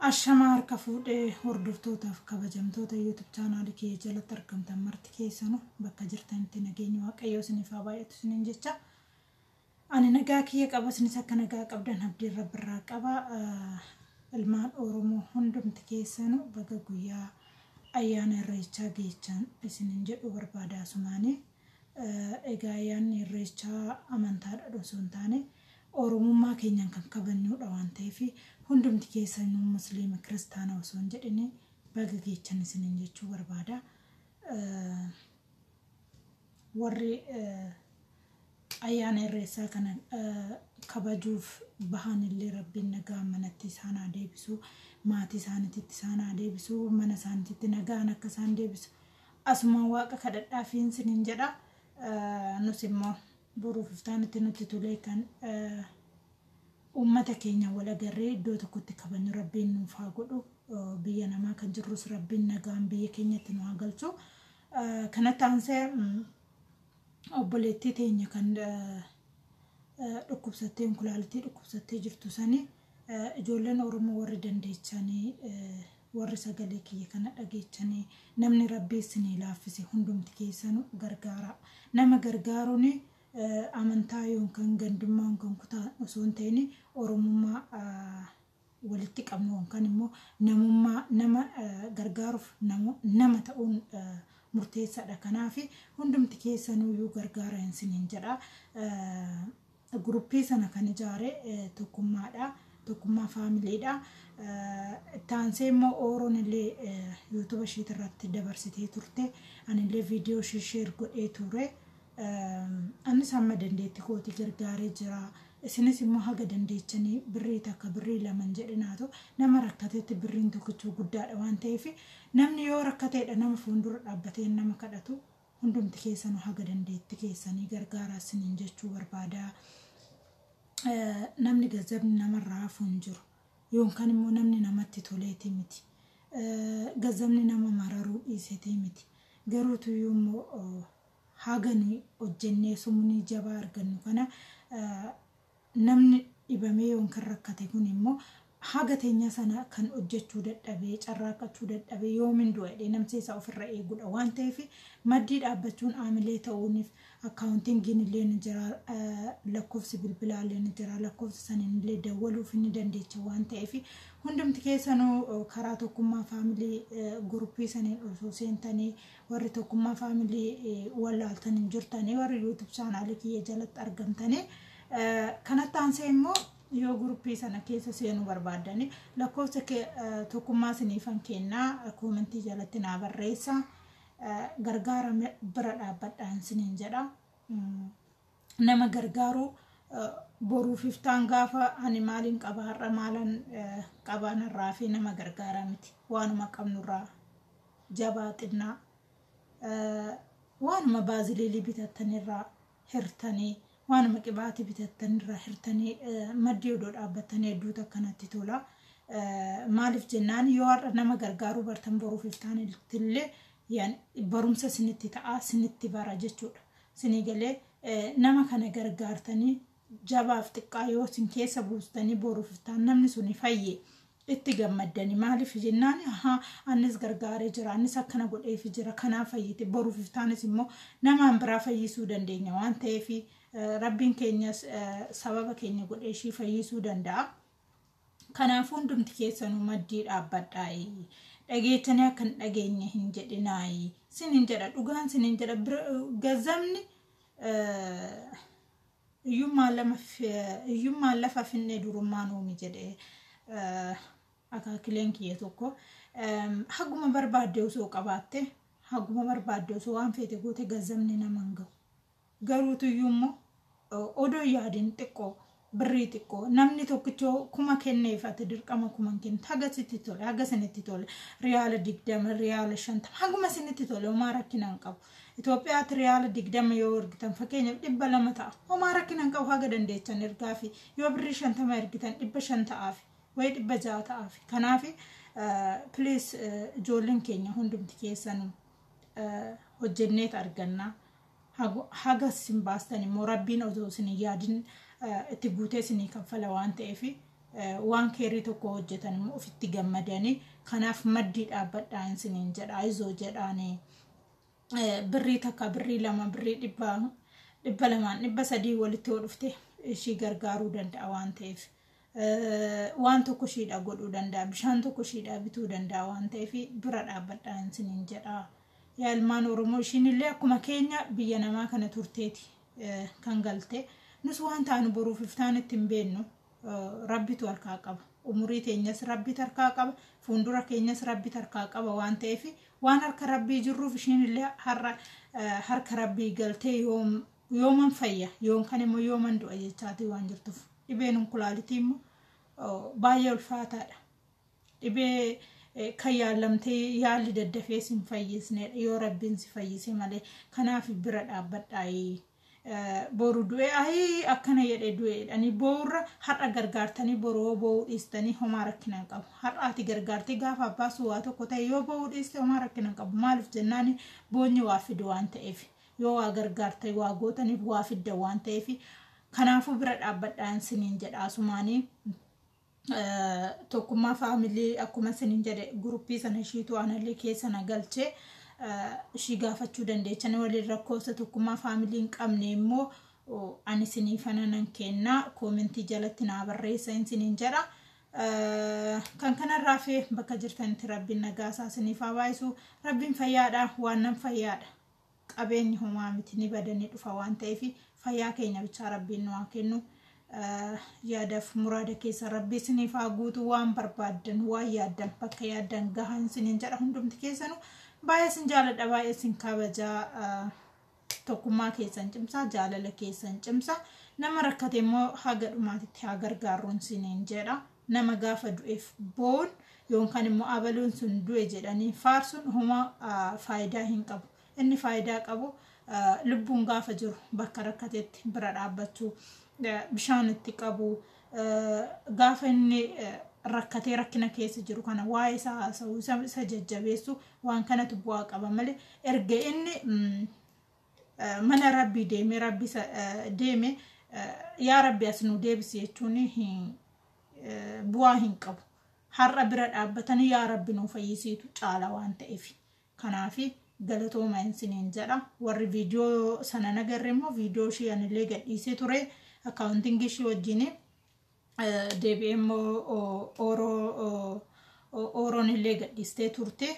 Ashamaa harka fuudhe hordoftootaaf kabajamtoota YouTube channel kiyya jalatti argamtan marti keessanu bakka jirtanitti nageenyi waaqayyoo isiniif haa baay'atu isiniin jecha ani nagaa kiyya qaba isinis akka nagaa qabdan abdiin rabbirraa qaba ilmaan oromoo hundumti keessanu baga guyyaa ayyaana irreechaa geechaan isinin jedhu barbaada asumaanii Egaa ayyaanni irreechaa amantaadhaan osoo hin taane oromummaa keenyaan kan kabajnuudha waan ta'eef hundumti keessanuu musliima kiristaana osoo hin jedhin baga geechan isiniin jechuu barbaada. Warri ayyaana irreessaa kana kabajuuf bahan illee rabbiin nagaa manatti isaan haa deebisu maatii isaaniitti isaan haa deebisu mana isaaniitti nagaan akka isaan deebisu Asumaan Waaqa kadhadhaafiin sinin jedha. Nus immoo boruuf iftaanitti nutti tolee kan uummata keenya wal agarree iddoo tokkotti kabajnu rabbiin nuuf haa godhu. Biyya namaa kan jirrus rabbiin nagaan biyya keenyatti nu haa galchu. Kanatti aansee obboleettii teenya kan dhukkubsattee kulaalitii dhukkubsattee jirtu sanii Ijoolleen Oromoo warri dandeechanii warri sagalee kiyya kana dhageechanii namni rabbii isinii laaffise hundumti keessanu gargaaraa. Nama gargaaruun amantaa yookaan gandummaa yookaan kutaa osoo hin ta'in Oromummaa walitti qabnu yookaan immoo namummaa nama gargaaruuf nama ta'uun murteessaadha. Kanaaf hundumti keessanuyyuu gargaara isiniin jedha. Guruppii sana kan ijaare tokkummaadha. Tokkummaa faamiliidha. Itti aansee immoo Ooroon illee yuutuba ishiit irratti dabarsitee turte. Ani illee viidiyoo ishii sheer godhee ture. Anis hamma dandeetti kooti gargaaree jira. Isinis immoo haga dandeechanii birrii takka birrii laman jedhinaatu nama rakkatetti birriin tokkichuu guddaadha waan ta'eef namni yoo rakkateedha nama fuuldura dhaabbatee nama kadhatu Hundumti keessanu haga dandeetti keessanii gargaaraa sinin jechuu barbaada. Namni gazzabni namarraa hafu hin jiru. Yoonkan immoo namni namatti toleeti miti. Gazzabni nama mararuu dhiisetee miti. Garuu tuyyuu immoo haga nuyi hojjennee sumunii jabaa argannu kana Namni dhibamee yookiin rakkate kun immoo haga teenya sana kan hojjachuu dadhabee, carraaqqachuu dadhabee yoomin du'a jedhee namsee isaa ofirra eegudha waan ta'eef maddii dhaabbachuun aamilee ta'uunif accountingin illee ni jira, lakkoofsi bilbilaa illee ni jira, lakkoofsa saniin illee dawwaluuf ni dandeecha waan ta'eef hundumti keessanuu karaa tokkummaa family group saniin osoo seentanii Warri tokkummaa family wallaaltan hin jirtanii warri YouTube channel kiyya jalatti argamtanii kanatti aansee immoo yoo guruppii sana keessa seenuu barbaaddanii lakkoofsa tokkummaa siniifan kennaa koomentii jalatti naa barreessa gargaara bira dhaabbadhaan siniin jedha. nama gargaaru boruuf iftaan gaafa ani maaliin qaba har'a maalan qabaan irraa fi nama gargaaraa miti waanuma qabnurraa jabaa xinnaa waanuma baaziliilii bitattanirraa hirtanii waanuma qibaatii bitattanirraa hirtanii maddii odoo dhaabbattanii hedduu takka natti tola. Maaliif jennaan yoo har'a nama gargaaruu bartan boruuf iftaan illee barumsa sinitti ta'a sinitti bara jechuudha. sinii galee nama kana gargaartanii jabaaf xiqqaa yoo sin keessa buustanii boruuf iftaan namni suni fayye itti gammaddani maaliif jennaan ahaa annis gargaaree jira annis akkana godheefi jira kanaa fayyite boruuf iftaanis immoo namaan biraa fayyisuu dandeenya waan ta'eef rabbiin keenyas sababa keenya godhee ishii fayyisuu danda'a. Kanaafuu hundumti keessanuu maddii dhaabbadhaa'i. Dhageettanii akka hin dhageenye hin jedhinaa'i. Sin hin jedha dhugaan sin hin jedha gazzabni hiyyummaan lafa finnee durummaan uumi jedhee akaakileen kiyya tokko haguma barbaadde osoo qabaatte haguma barbaadde osoo waan feete goote gazzabni nama hin gahu. Garuutuyyuummoo odoo hin yaadin xiqqoo birrii xiqqoo namni tokkichoo kuma kenneef ati dirqama kuma hin kennitu haga sitti tole haga isinitti tole riyaala digdama riyaala shantama haguma isinitti tole homaa rakkina hin qabu. Itoophiyaatti riyaala digdama yoo ergitan fakkeenyaaf dhibba lama ta'a homaa rakkina hin qabu haga dandeechan ergaafi yoo birrii shantama ergitan dhibba shan ta'aafi wayi dhibba ja'a ta'aafi kanaafi piliis ijoolleen keenya hundumti keessanuu hojjenneet argannaa. haga isin baastan immoo rabbiin otoo isin hin yaadin itti guutee isinii kaffala waan ta'eef waan keerrii tokko hojjetan immoo ofitti gammadanii kanaaf maddii dhaabbadhaa isiniin jedha ayizoo jedhaanii birrii takka birrii lama birrii dhibba dhibba lamaan dhibba sadii walitti yoo dhufte ishii gargaaruu danda'a waan ta'eef waan tokko ishiidha godhuu danda'a bishaan tokko ishiidha bituu danda'a waan ta'eef bira dhaabbadhaa isiniin jedha yaa ilmaan oromoo ishiin illee akkuma keenya biyya namaa kana turteeti kan galte nus waan taanu boruuf iftaan itti hin beennu rabbitu harkaa qaba umurii teenyas rabbi harkaa qaba fuuldura keenyas rabbi harkaa qaba waan ta'eef waan harka rabbii jirruuf ishiin illee har'a harka rabbii galtee yoom yooman fayya yoonkan immoo yooman du'a jechaatii waan jirtuuf dhibeen onkulaalitii immoo baay'ee ulfaataadha. Dhibee kan yaallamtee yaalli daddafee sin fayyisneedha yoo rabbiin si fayyise malee kanaaf bira dhaabbadhaayii. Boru du'ee ayii akkana jedhee du'eedhanii bo'uurra har'a gargaartanii boru yoo bo'uu dhiistanii homaa rakkina hin qabu. Har'aati gargaartee gaafa abbaa suwaa tokko ta'e yoo bo'uu dhiiste homaa rakkina hin qabu. Maaliif jennaan boonyi waa fidu waan ta'eef. Yoo waa gargaartan waa gootaniif waa fiddan waan ta'eef kanaafuu bira dhaabbadhaan siniin jedha asumaanii tokkummaa faamilii akkuma siniin jedhe guruppii sana ishiitu anallee keessa na galche ishii gaafachuu dandeechan waliin rakkoofsa tokkummaa faamilii hin qabne immoo ani sinii fana nan kennaa koomentii jalatti naa barreessa hin siniin jedha. kan kanarraa fi bakka jirtanitti rabbiin nagaa isaa siniif haa baayisu rabbiin fayyaadha waan nan fayyaadha Qabeenyi homaa miti ni bada ni dhufa waan ta'eef fayyaa keenya bichaa rabbiin nu haa kennu. Yaadaf muraada keessa rabbii isiniif haa guutu waan barbaaddan waan yaaddan bakka yaaddan gahan isiniin jedha hundumti keessanu baay'ee isin jaaladha baay'ee isin kabajaa tokkummaa keessan cimsaa jaalala keessan cimsaa nama rakkate immoo haga dhumaatitti haa gargaarruun isiniin jedha. nama gaafa du'eef boo'uun yookaan immoo abaluun sun du'e jedhanii faarsuun homa faayidaa hin qabu. Inni faayidaa qabu lubbuun gaafa jiru bakka rakkatetti bira dhaabbachuu, bishaan itti qabuu, gaafa inni rakkatee rakkina keessa jiru kana waa'ee isaa haasa'uu, isa jajjabeessuu waan kanatu bu'aa qaba malee erga inni mana rabbii deeme rabbi isa deeme yaa rabbi as nu deebisi jechuun bu'aa hin qabu. Har'a bira dhaabbatanii yaa rabbi nu fayyisiitu caala waan ta'eef. Kanaaf galatooma isiniin jedha. Warri viidiyoo sana nagarre immoo viidiyoo ishii anillee gadhiisee ture akkaawuntingii ishii wajjin deebi'ee immoo ooroon illee gadhiistee turte.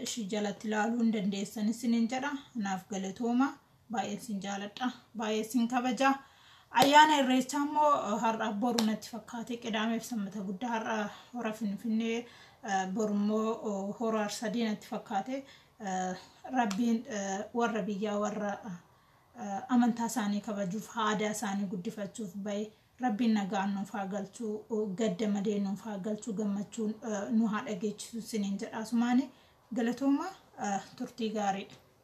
ishii jalatti ilaaluu hin dandeessan isinin jedha naaf galatooma baay'een isin jaaladha baay'ee isin kabaja ayyaana irreechaa immoo har'a boru natti fakkaate qidaameef sammata guddaa har'a hora finfinnee boru immoo hora arsadii natti fakkaate rabbiin warra biyyaa warra amantaa isaanii kabajuuf aadaa isaanii guddifachuuf bahe Rabbiin nagaan nuuf haa galchu gadda malee nuuf haa galchu gammachuun nu haa dhageechisu siniin jedha asumaani galatooma turtii gaariidha.